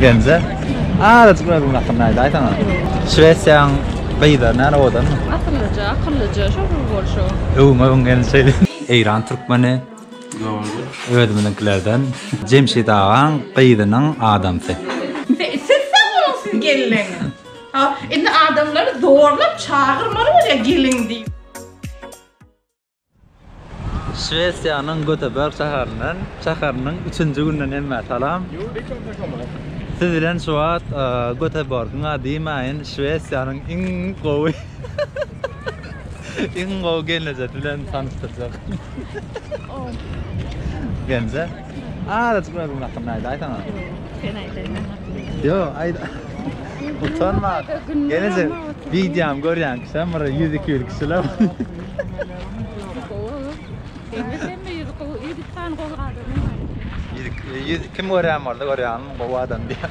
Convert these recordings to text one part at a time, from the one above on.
Bence. Azajyk özüň hakkynda aýt, aýsana. Şwesiýaň gyzlary nära owadanmy? Akyllyja, akyllyja, şol bir bolşy. Öwüň, öwüň gelin şeýle. Eýran türkmeni. Dogry. Özümiziňkilerden. Jemşit agaň gyzynyň adamsy. Siz sag boluň siz gelleňiz. Ha, indi adamlary zorlap çagyrmaly bolýar gelin diýip. Şwesiýanyň Göteborg şäherinden, şäheriniň üçünji günden hemmä salam. Siz bilen şu wagt Göteborgyň a diýmäýin, Şwesiýanyň iň gowy iň gowy gelnejesi bilen tanyşdyrjak. Gelnje. Azajyk bir özüň hakkynda aýda aýsana. Sen aýdaýma. Yo, aýda. Utanma. Gelese videom görýän kişiler bir 100-200 kişiler. Kim görýän boldy, görýän gowy adam diýär.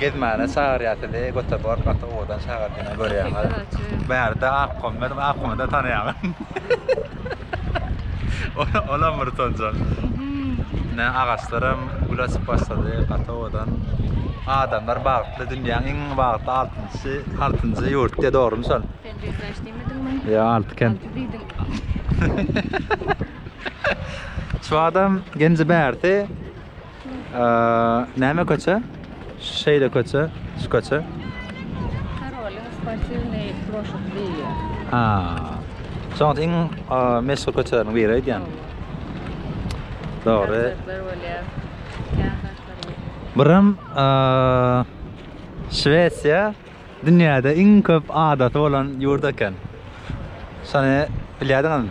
Gezmäne çagyrýar sizi Göteborg gaty owadan şäher diýen görýäňiz. Bärde Akkom bar, Akkomy-da tanaýaňyz. Olam bir tozan. Ine agaçlaram gül açyp başlady, gaty owadan. Adamlar bagtly, dünýäň iň bagtly altynjy, altynjy ýurt diýýär dogrymy şol? Sen Beýikdaş diýmediňmi? Ýa alty kent. Alty diýdiň. Şu adam Genji-Bärde Näme köçe? Şeýle köçe, şu köçe. Karolin sportivny ploşad diýýär. Ha. Soňat iň meşhur köçeleriň biri aýdýan. Dogry. Birim Şwesiýa dünýäde iň köp adasy bolan ýurt eken. Şony bilýärdiňizmi?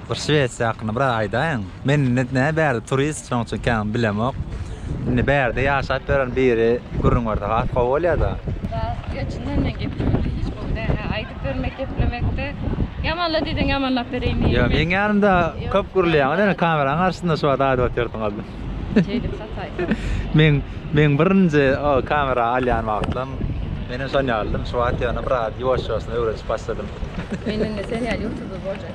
Bir şwesiýa hakynda biraz aýdaýyň. Men indi nä bärde turist, şonuň üçin kän bilemok. Indi bärde ýaşap ýören biri gürrüň berse has gowy bolýada. Ýa çyndan men geplemeli hiç gowy däl. Hä, aýdyp bermek, geplemekde ýamanla diýseň ýamanlap bereýin diýip. Ýa meň ýanymda köp gürleýäňiz ýöne kameraň garşysynda şu wagt aýdyp otyrsyňyz. Şeýdip sataýsam. Men meň birinji o kamera alýan wagtym menem şon ýalydym. Şu wagt ýöne biraz ýuwaş-ýuwaşdan öwrenişip başladym. Men indi sen ýaly ýutuber boljak.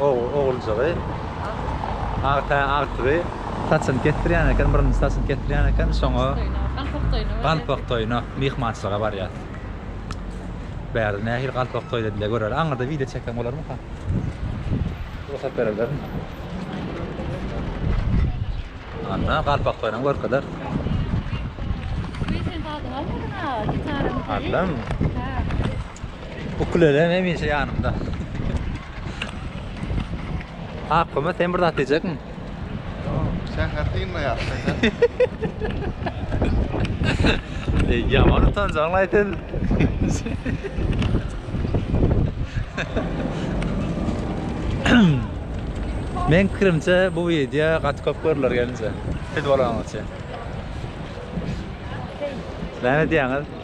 Oguljygy agta agtygy saçyny kesdirýän eken, birinji saçyny kesdirýän eken, şoňa galpak toýuna myhmançylyga barýar. Bärde nähili galpak toýda bile görer. Aňyrda wideo çeksem bolarmyka? Rugsat bererlermi? Anna galpak toýuny görkezer. Allam. Ukulele hemişe ýanymda. Akgama sen bir zat diýjekmiň? Säher dynma ýa. Ey, ýaman utanjaň aýdyn. Men kirimçe bu video gaty köp görüler gelince. Siz bolaňyzça. Näme diýýäňiz?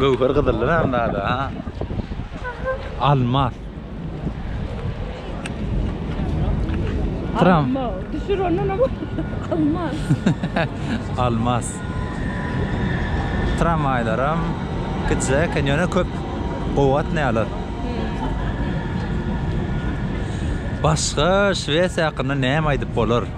Göwher gyzylly näme zada ha? Almas. Tram. Düşür ondan ama. Almas. Almas. Tramwaylaram gitse eken ýöne köp gowatnaýarlar. Başga Şwesiýa hakynda näme aýdyp bolar?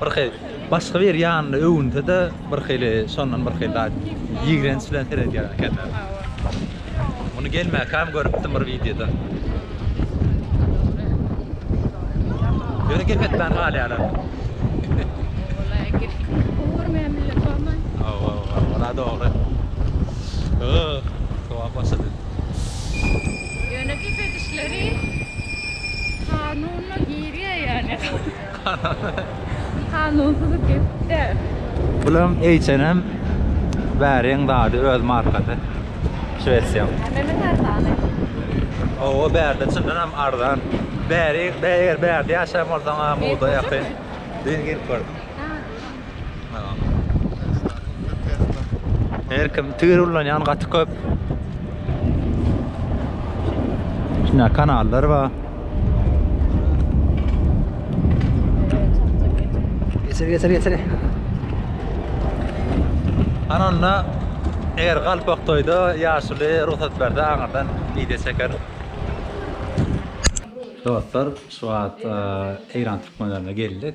Bir hili başga bir ýanyny öwünse-de bir hili şondan bir hili ýigrenç bilen seredýär ekenler. Muny gelmäkäm görüpdim bir wideoda. Ýöne gep etmän galýarlar. Walaý gep görmeýän millet barmy? Hawa, ora dogry. Ýoh, sowap başlady. Ýöne gep edişleri kanuna girýär ýaly. Kanunsyz gepler. Bulam H&M bäriň zady öz markasy şwesiýaň. Hemeden arzany. Hawa bärde çyndan hem arzan. Bäri eger bärde ýaşaýan bolsaň-a moda ýakyn. Diýen gelip gördüm. Her kim tigir ulanýan gaty köp. Şuna kanallar bar. Geçir geçir geçir. Ananda eger galpak toýda ýaşuly rugsat berdi aňyrdan video çeker. Dostlar, şu wagt e, Eýran türkmenlerine geldik.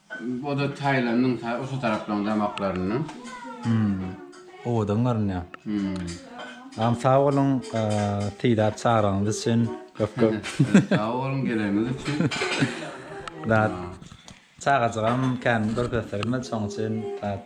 Oda Tailandyň ta osa taraplaň damaklaryndan. Hum. Owadan görünýär. Hum. Sag boluň Seýdap çagyraňyz üçin köp köp. Sag boluň geleniňiz üçin. Dat. Çagajygam kän görkezdirmedi şoň üçin dat.